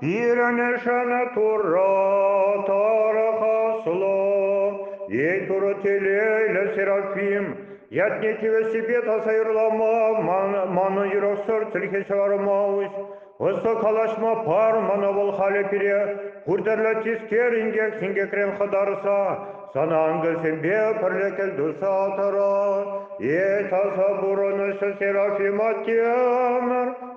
Пирӗн Шанатура тӑрӑха сло, Ейтура телейлӗ Серафим, ятне тивӗҫсипе таса юрлама, мана юрӑхсӑр чӗлхе ҫӑварма уҫ. Ӑслӑ калаҫма пар мана вӑл халӗ пире, пуртерлӗ тискер инкек-синкекрен хӑтарса, сана ангелсемпе пӗрле кӗлтуса тӑра. Е таса пурӑнӑҫ Серафим аттемӗр.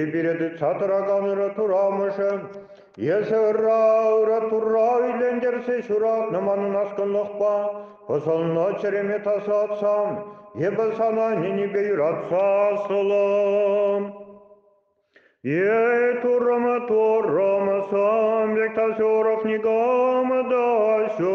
Эпире тытса тӑракан ырӑ турамӑшӗ, эсӗ ырра-ырӑ Турра иллентерсе ҫуратнӑ манӑн аскӑнлӑхпа пӑсӑлнӑ чӗреме тасатсам, эпӗ сана ӗненӳпе юратса сӑлам. Ей, туррӑмы, туррӑмы, сам вектасёров никамы да ҫу,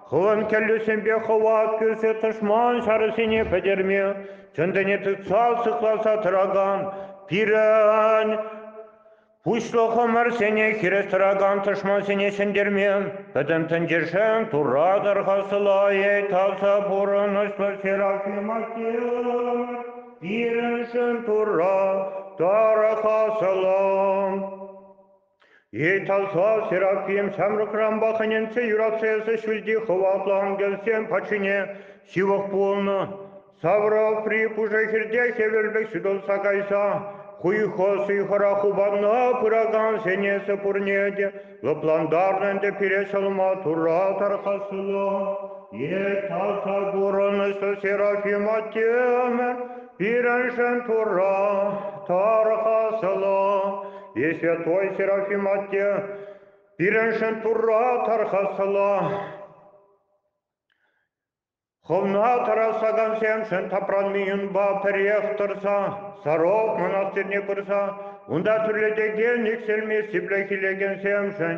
Хӑвӑн кӗллӳсемпе хӑва кӳрсе тӑшман ҫарӗсене пӗтерме чӑн-тӗне тытса сыхласа тӑракан пирӗн пуҫлӑхӑмӑрсене хирӗс тӑракан тӑшмансене ҫӗнтерме пӗтӗм тӗнчешен Турра тӑрхасӑлайӗ таса пурӑнӑҫлӑ ҫӗр ачи пирӗншӗн Турра тархасӑлам. Италса Серафим ҫамрӑкранпах ӗненсе юратса эсӗ ҫӳлти хӑватлӑ ангелсем патшине ҫывӑх пулнӑ. Саврапри пушӑ хирте хӗвел пек ҫутӑлса кайса хуйхӑ-суйхӑра хупанна пыракансен эсӗ пурне те лӑплантарнӑ ӗнтӗ пире ҫӑлма Турра тархасла. Италса курӑнӑҫлӑ Серафим аттемӗр Пирӗншӗн Турра тархаслӑ, Исвятой Серафим атте, пирӗншӗн Турра тархаслӑ. Хӑвна тарасакансемшӗн тапранмийӑнпа пӗрех тӑрса, сарок мӑнастирне пырса, унта тӳрлетекен иксӗлми сиплӗх илекенсемшӗн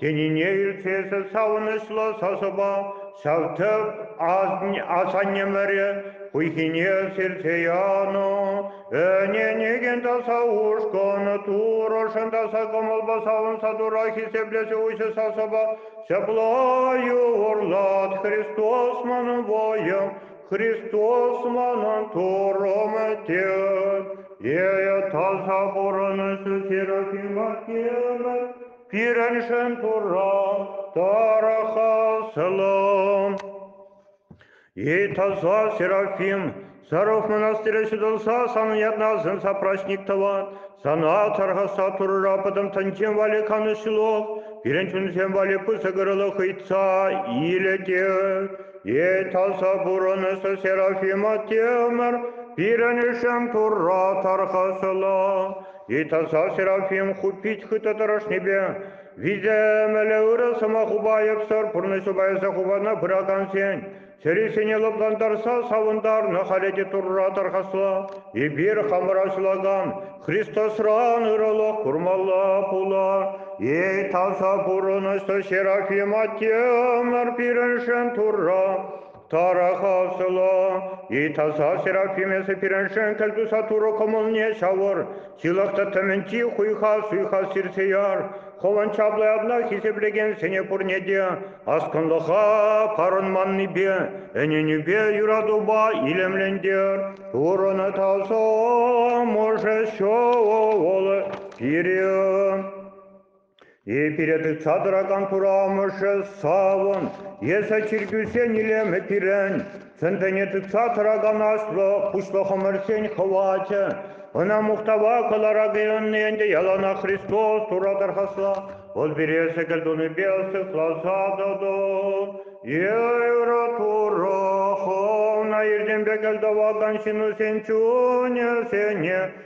Тенине иртесе савӑнӑҫлӑ сасӑпа ҫав тӗп асаннемӗрӗ хуйхине сирсе янӑ. Ӗненекен таса ушкӑн турӑшӑн таса кӑмӑлпа савӑнса тура хисеплесе уҫӑ сасӑпа ҫапла юрлат Христос манӑн вӑйӑм, Христос манӑн турӑм тет. Е таса пурӑнӑҫу Серафима кемӗр Пирӗншӗн Турра тарӑха сӑлам. И таза Серафим, саров монастыря ҫутӑлса, санӑн ятнасӑн сапрачник тӑван, сана тархаса Турра пӑтӑм тӑнчем валли канӑҫ ҫулов, пирӗн чунсем валли пысӑк ырӑлӑх ыйтса илетӗр. И таза пурӑнӑсӑр Серафим Атемӗр, пирӗншӗн Турра тархасӑлам. Ытаса Серафим хут пит хытӑ тӑрӑшнипе виҫӗ ӗмӗллӗ ырӑ сӑмахупа айӑпсӑр пурнӑҫупа эсӗ хупана пыракансен чӗрисене лӑплантарса савӑнтарнӑ халӗ те Турра тархасла. Эпир хамӑра ҫулакан Христосран ырӑлӑх курмалла пулар. Эй таса пурӑнӑҫлӑ Серафим Аттемӗр пирӗншӗн Турра Тарахав ҫӑло, и таса Серафимесы пирӗншен кӗлтуса турӑ кӑмӑлне ҫавӑр, ҫылӑхтӑ тӗмӗнчи хуйха суйха сирсе яр, хӑвӑн чаплӑ ятна хисеплекенсене пурне те аскӑнлӑха парӑнманнипе, ӗненӳпе, юратупа илемлентер. Пурӑнӑ тасӑ мӑшӗ ҫӑвӑл пире. Пире тытса тӑракан пура амӑшӗ савӑн, эсӗ чиркӳсен илемӗ пирӗн, чӑн-чӑне тытса тӑракан аслӑ пуҫлӑхӑмӑрсен хӑвачӗ. Ӑна мухтава кӑларак ӑнни ӗнтӗ яланах Христос Турра тархасла. Вӑл пире сӗкӗл тунипе сыхласа тӑтӑ. Эйра Турра хӑвна иртен пек кӗл тӑвакан ҫынусен чунӗсене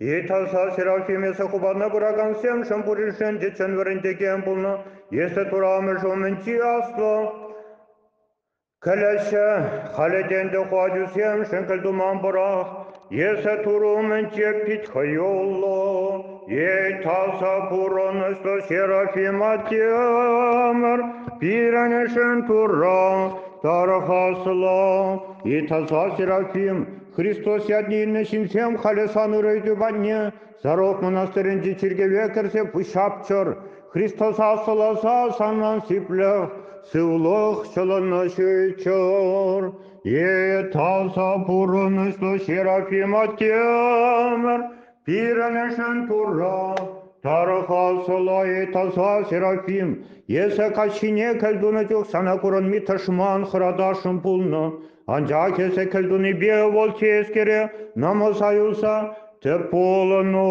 Ыталса ҫырав ҫимӗҫӗ хупана пыракансемшӗн пуриншӗн те чӑн вӗрентекен пулнӑ. Если турамӗш умӗнчи аслӑ кӗлӗҫӗ халӗ те ӗнтӗ ку ачусемшӗн кӗлтуман пӑрах. Если турӑ умӗнче пит хӑюллӑ, ыталса пурӑнӑҫлӑ Серафима Темӗр пирӗншӗн Турра тархасла. Ыталса Серафим Христос ятне илнӗ ҫынсем халӗ сан ырӑ ыйту патне Зарок мӑнастырӗнчи чиркӗве кӗрсе пуҫҫапчӑр. Христоса сӑласа санран сиплӗх, сывлӑх ҫӑлӑнӑҫыччӑр. Е таса пурӑнӑҫлӑ Серафим Атемӗр, Пирӗншӗн Турра тарӑха сӑлайи таса Серафим, эсӗ каҫхине кӗлтунӑ чух сана курӑнми тӑшман хӑратасшӑн пулнӑ, анчах эсӗ кӗлтунипе вӑл тискере намӑса юлса тӗп пулӑну.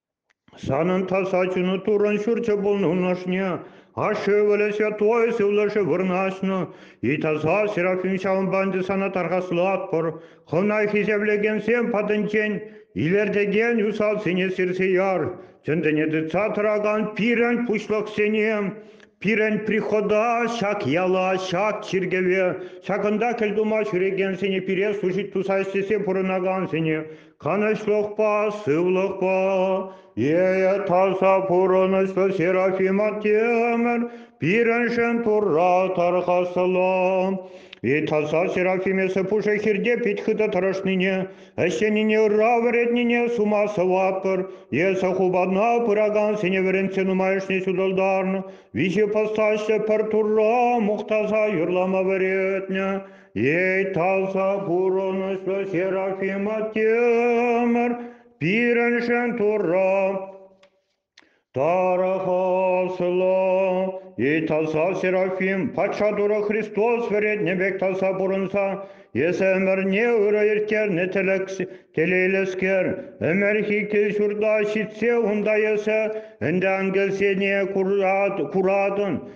Санӑн таса чуну Туррӑн Ҫурчӗ пулнӑ унӑшне. Ашшӗ ывӑлӗ святой сывлӑшӗ вырнаҫнӑ. И таса серафим ҫавӑнпа ӗнтӗ сана тархаслатпӑр. Хӑна хисеплекенсем патӗнчен илӗртекен усалсене сирсе яр. Чӗнтӗне тытса тӑракан пирӗн пуҫлӑхсене, пирӗн прихода ҫак яла, ҫак чиркӗве, ҫакӑнта кӗлтума ҫӳрекенсене, пире служить туса ӗҫлесе пурӑнакансене, канӑҫлӑхпа, сывлӑхпа, ейӗ таса пурӑнӑҫлӑ Серафим атемӗр пирӗншӗн Турра тархасла. И таса Серафим эсӗ пушӑ хирте пит хытӑ тӑрӑшнине, ӗҫленине ырра вӗретнине сума сӑватпӑр. Эсӗ хупана пыракансене вӗрентсе нумайӑшне ҫутӑлтарнӑ. Виҫе постаҫлӑ пӗр Турра мухтаса юрлама вӗретнӗ. Эй, таса пурӑнӑҫлӑ Серафима Темӗр, пирӗншӗн Турра тарӑхаслӑ. Эй, таса Серафим, патша Турӑ Христос вӗретнӗ пек таса пурӑнса, эс ӗмӗрне ырӑ ирттернӗ телейлӗскер, ӗмӗрхи кил-ҫурта ҫитсе унта эсӗ ӗнтӗ ангелсене куратӑн,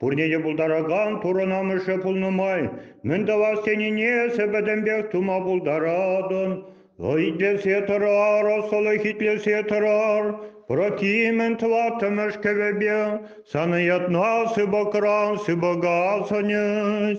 Пурне те пултаракан пурӑнамӑшӗ пулнӑ май мӗн тӑвас тенине эсӗ пӗтӗмпех тума пултаратӑн. Итлесе тӑрар, ӑслӑх итлесе тӑрар, Прокимӗн тӑваттӑмӗш кӗвӗпе сана ятна сыпӑкран сыпӑка сӑнӗҫ.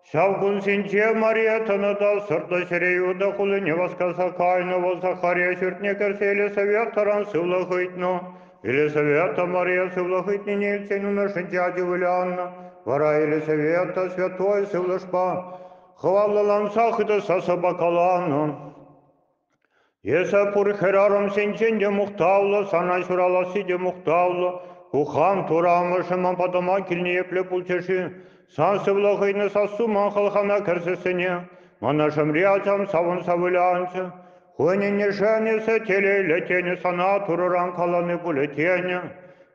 Ҫав кунсенче Мария Тӑнӑтал сӑртлӑ ҫӗре Иуда хулине васкаса кайнӑ. Вӑл Захария ҫуртне кӗрсе Елисаветтӑран сывлӑх ыйтнӑ. Елисавета Мария сывлӑх ыйтнине илтсен умӗршӗнче ачи вылянӑ. Вара Елисавета святой сывлӑшпа хӑваллӑланса хытӑса сӑпакаланӑ. Эсӗ пур хӗрарӑмсенчен те мухтавлӑ, сана ҫураласси те мухтавлӑ. Ку хан Турӑ амӑшӗмӗн патӑма килнӗ епле пулчӗ-ши? Сан сывлӑх хӑйне сассу ман хӑлхана кӗрсессӗне мӑнӑшӑмри ачам савӑнса вылянчӗ. Хӑйӗн ӗнешӗн эсӗ телейлӗ тенӗ, сана Турӑран калани пулӗ тенӗ.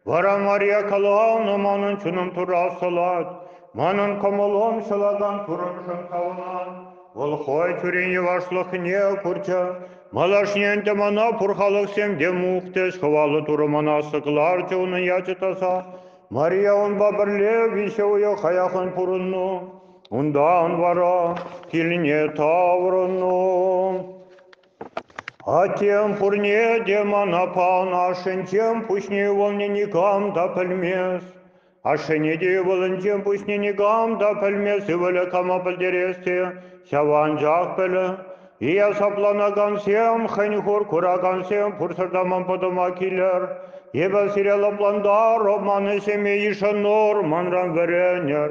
Вара Мария каланӑ манӑн чунӑм турасӑлать, манӑн кӑмӑлӑм ҫӑлакан пурӑнӑшӑм савӑнать. Вӑл хӑй тӳрен йӑвашлӑхне курчӗ, малашне ӗнтӗ мана пур халӑхсем те мухтӗҫ, хӑваллӑ турӑмана сӑкларчӗ унӑн ячӗ таса. Мария унпа пӗрле виҫӗ уйӑх аяккӑн пурӑннӑ. Унтан вара килне таврӑннӑ. Аттем пурне те мана панӑ ашшӗнчен пуҫне ывӑлне никам та пӗлмест. Ашшӗне те ывӑлӗнчен пуҫне никам та пӗлмест ывӑлӗ кама пӗлтерес те ҫав анчах пӗлӗ. Ия сапланакансем, хӗн-хур куракансем пурсӑр та ман пӑтӑма килӗр. Эпӗ сире лӑплантарӑп, ман ӗҫӗме йышӑнӑр, манран вӗренӗр.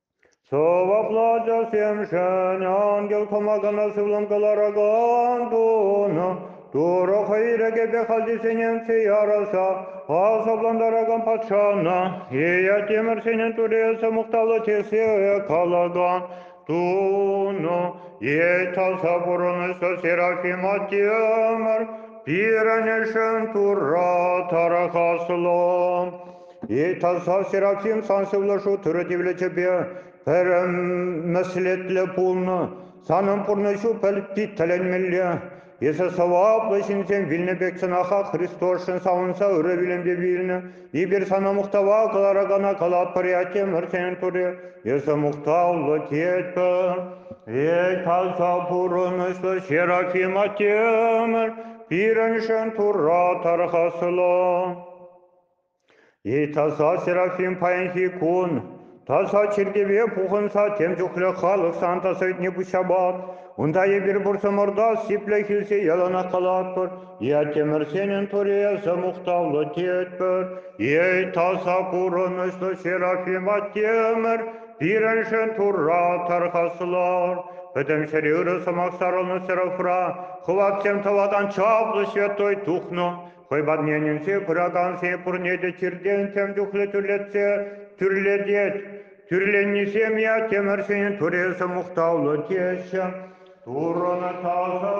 Сӑваплӑ ачасемшӗн ангел кӑмакана сывлӑм кӑларакан тунӑ. Турӑ хӑй ирӗкӗпе хальхисенчен яраса асаплантаракан патшана Иятимӗрсенӗн турелсӗ мухтавлӑ тесе калаган тунӑ. Итаса пурӑнӑҫлӑ Серафима Тимӗр пирӗншӗн Турра тархаслӑ. Эй, таса Серафим, сан сывлӑшу тырӑ тивлечӗпе пӗрӗмӗслетлӗ пулнӑ. Санӑн пурнӑҫу пӗлти тӗлӗнмелле. Эсӗ сӑваплӑ ҫынсем вилнӗ пек чӑнаха Христосшӑн савӑнса ырӑ вилӗмпе вилнӗ. Эпир сана мухтава кӑларакана калап пӗриятемӗр сенӗн тури. Эсӗ мухтавлӑ тетпӗр. Эй, таса пурӑнӑҫлӑ Серафим Аттемӗр, пирӗншӗн Турра тархаслӑ. И таса серафим паянхи кун таса чиркӗве пухӑнса тем чухлӗ халӑх Санта сӑйтне пуҫҫапать. Унта эпир пурсӑмӑрта сиплӗх илсе яланах калатпӑр, Ятемӗрсенӗн туреса мухтавлӑ тетпӗр. Эй, таса курӑнӑҫлӑ Серафим Аттемӗр, пирӗншӗн Турра тархаслар. Пӗтӗм ҫӗре ырӑ сӑмах сарӑлнӑ Серафра хӑватсем тӑвакан чаплӑ Святой Дух Хӑй парнелесе пыракансем пурне те чиртен тем чухлӗ тӳрлетсе тӳрлетет. Тӳрленнисем ятемӗрсен туресӗ мухтавлӑ теҫҫӗ. Турӑн таса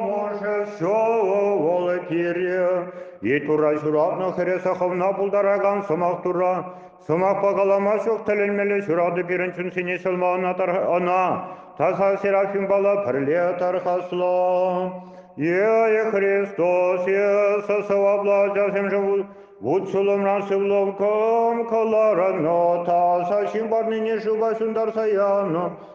мӑшӗ ҫӑвӑл тире. Вет ура ҫуратнӑ хӗресе хӑвна пултаракан сӑмах тура Сӑмахпа калама ҫук тӗлӗнмелле ҫурату пирӗн чунсене ҫӑлма ӑна, ӑна таса Серафимпала пӗрле тархаслӑ. Ие Христос, Иисус, сӑваплӑ ачасемшӗн вут-ҫулӑмран сывлӑм кӑм кӑларнӑ, таса ҫын парнине шыва ҫунтарса янӑ.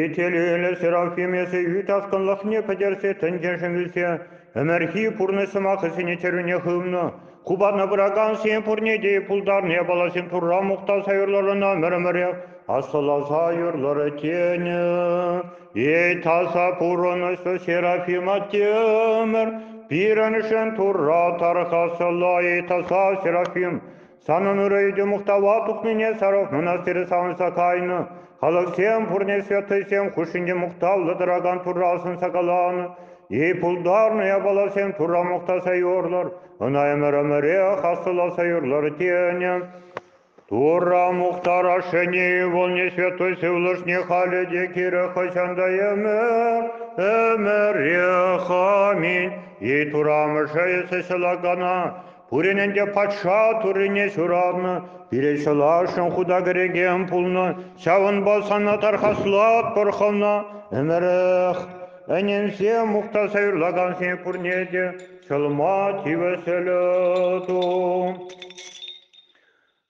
Итӗлӳллӗ Серафим эсӗ ӳт аскӑнлӑхне пӗтерсе тӗнчешӗн илсе ӗмӗрхи пурнӑҫ сӑмахӗсене чӗрӳне хывнӑ, хупана пыракансен пурне те пултарнӑ япаласем Турра мухтаса юрлӑрӑна мӗр-мӗрех аслӑласа юрлӑрӗ тенӗ. Эй таса пурӑнӑҫлӑ Серафим Аттемӗр, пирӗншӗн Турра тархасла, эй таса Серафим, Санӑн ырӑ ӳтӗ мухтава тухнине сарӑлнӑна сире савӑнса кайнӑ. Халӑхсем пурне святӑйсем хушшинче мухтавлӑ тӑракан Турра асӑнса каланӑ. И пултарнӑ япаласем Турра мухтаса юрлӑр, ӑна ӗмӗр-ӗмӗрех аслӑласа юрлӑр тенӗ. Турра мухтарашшӗне ывӑлне святой сывлӑшне халӗ те кирӗ хӑҫан та ӗмӗр, ӗмӗрех аминь. И Турамӑшӗ эсӗ ҫӑлакана Пурин ӗнтӗ патша Туррине ҫуратнӑ, пире ҫӑласшӑн хута кӗрекен пулнӑ, ҫавӑнпа сана тархаслатпӑр хӑвна. Ӗмӗрех ӗненсе мухтаса юрлакансене пурне те ҫӑлма тивӗҫлӗ ту.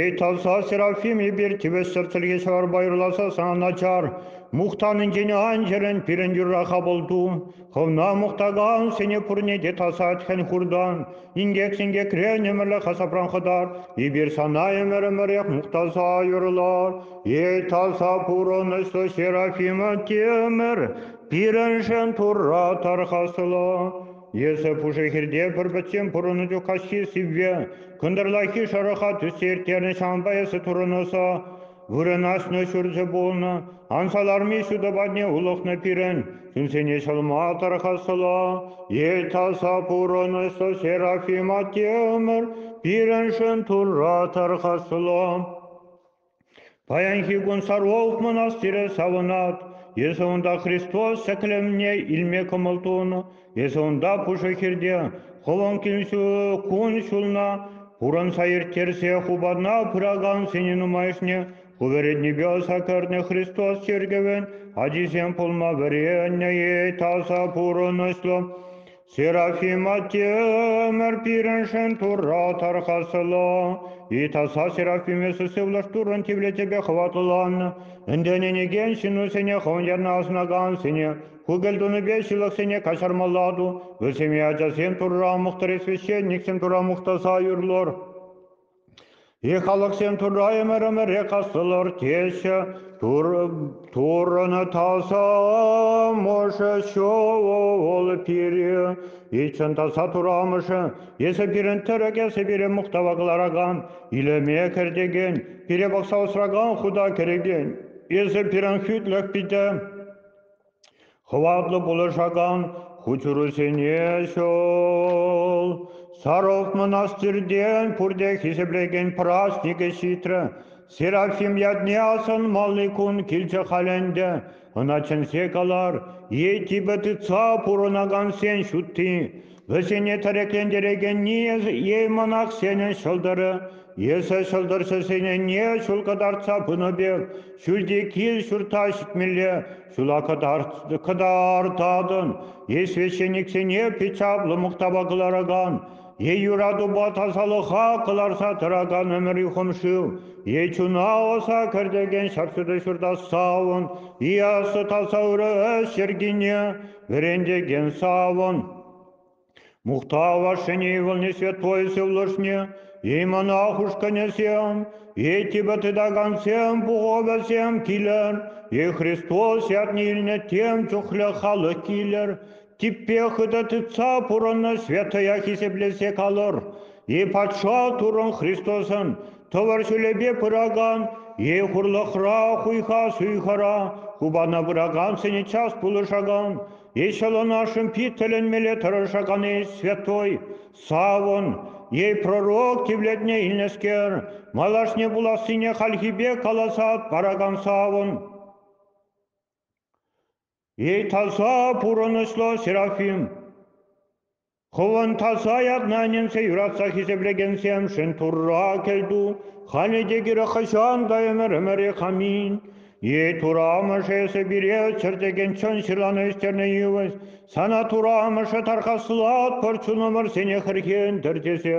Эй, таса Серафим, эпир тӗвӗсӗр чӗлхе-ҫӑварпа юрласа сана начар, мухтанинчен ан чӗрӗн пирӗн юрра-ха пулту. Хӑвна мухтакансене пурне те тасат хӗн-хуртан, инкек-синкекрен ӗмӗрлӗх асапран хӑтар. Эпир сана ӗмӗр-ӗмӗрех мухтаса юрлар. Эй, таса пурӑнӑҫлӑ Серафим Тимӗр, пирӗншӗн Турра тархасла. Эсӗ пушӑ хирте пӗр пӗччен пурӑннӑ чух каҫхи сивве кӑнтӑрлахи шӑрӑха тӳссе ирттернӗ ҫавӑнпа эсӗ турӑнӑса вырӑнаҫнӑ ҫурчӗ пулнӑ. Анса ларми ҫутӑ патне улӑхнӑ пирӗн чунсене ҫӑлма тархасла. Эл таса пурӑнӑсӑ Серафим атте ӗмӗр пирӗншӗн Турра тархасла. Паянхи кун Сарволов мӑнастирӗ савӑнать. Эсӗ унта Христос ҫӗклевне илме кӑмӑл тунӑ. Эсӗ унта пушӑ хирте хӑлӑн кун-ҫулна пурӑнса ирттерсе хупана пыракансене нумайӑшне ку вӗрентнипе ӑса кӗрнӗ Христос чиркӗвӗн ачисем пулма вӗреннӗ-и таса пурӑнӑҫлӑ. Серафима Тимӗр пирӗншӗн Турра тархасла. Итаса Серафимеса сывлӑш Туррӑн тивлечӗпе хӑватланнӑ. Ӗнтӗнӗнекен ҫыннусене хӑвӑн ярна асӑнакансене, ку кӗлтунипе ҫылӑхсене каҫармалла-ту. Вӗсене ачасем Турра мухтарӗ, священниксем Турра мухтаса юрлӑр. Е халӑхсем Турра ӗмӗр ӗмӗре кассӑлӑр теҫҫӗ, Туррӑн таса амӑшӗ ҫӑл пире итшӗн таса Турӑ Амӑшӗ, Эсӗ пирӗн тӗрӗк, Эсӗ пире мухтава кӑларакан, илеме кӗртекен, пире пӑхса усракан, хута кӗрекен, Эсӗ пирӗн хӳтлӗх питӗ. Хӑватлӑ пулӑшакан хутшӑнусене ҫул Саров мӑнастиртен пурте хисеплекен праҫникӗ ҫитрӗ. Серафим ятне асӑнмалли кун килчӗ халь ӗнтӗ. Ӑна чӗнсе калар, е типӗ тытса пурӑнакансен ҫутти. Вӗсене тӗреклентерекен Еймӑнах сенӗн ҫӑлтӑрӗ. Эсӗ ҫӑлтӑрҫӑсене ҫул кӑтартса пынӑ пек, ҫӳлти кил-ҫурта ҫитмелле ҫула кӑтартатӑн, е священниксене пит чаплӑ мухтава кӑларакан, е юратупа тасалӑха кӑларса тӑракан ӗмӗри хумшыв, е чуна ӑса кӗртекен ҫар ҫурта ҫурта савӑн, и аслӑ таса ырӑ ӗҫ йӗркине Вӗрентекен савӑн. Мухтава ҫӗнӗ ывӑлне святой сывлӑшне, и мӑнах ушкӑнӗсем, и типӗ тытакансем пухӑвӗсем килӗр, и Христос ятне илнӗ тем чухлӗ халӑх килӗр, типпе хытӑ тытса пурӑннӑ святая хисеплесе калӑр, и патша туррӑн Христосӑн, Тӑвӑр ҫулӗпе пыракан е хурлӑхра хуйха-суйхара хупана пыракан сӗнӗ час пулӑшакан е ҫӑлӑнашшӑн пит тӗлӗнмелле тӑрӑшакан-и святой, савӑн е пророк тивлетне илнӗскер, малашне пулассине хальхипе каласа паракан савӑн? Италса пурӑнӑҫлӑ Серафим. Хӑвӑн таса ятнанинче юратса хисеплекенсемшӗн Турра кӗлту, халӗ те кирек хӑҫан та ӗмӗр-ӗмӗре хамин. Е Тура амӑшӗ эсӗ пире чӗртекен чӑн ҫырлана ӳстернӗ йывӑҫ, сана Тура амӑшӗ тархаслатпӑр чунӑмӑрсене хӗрхентӗр тесе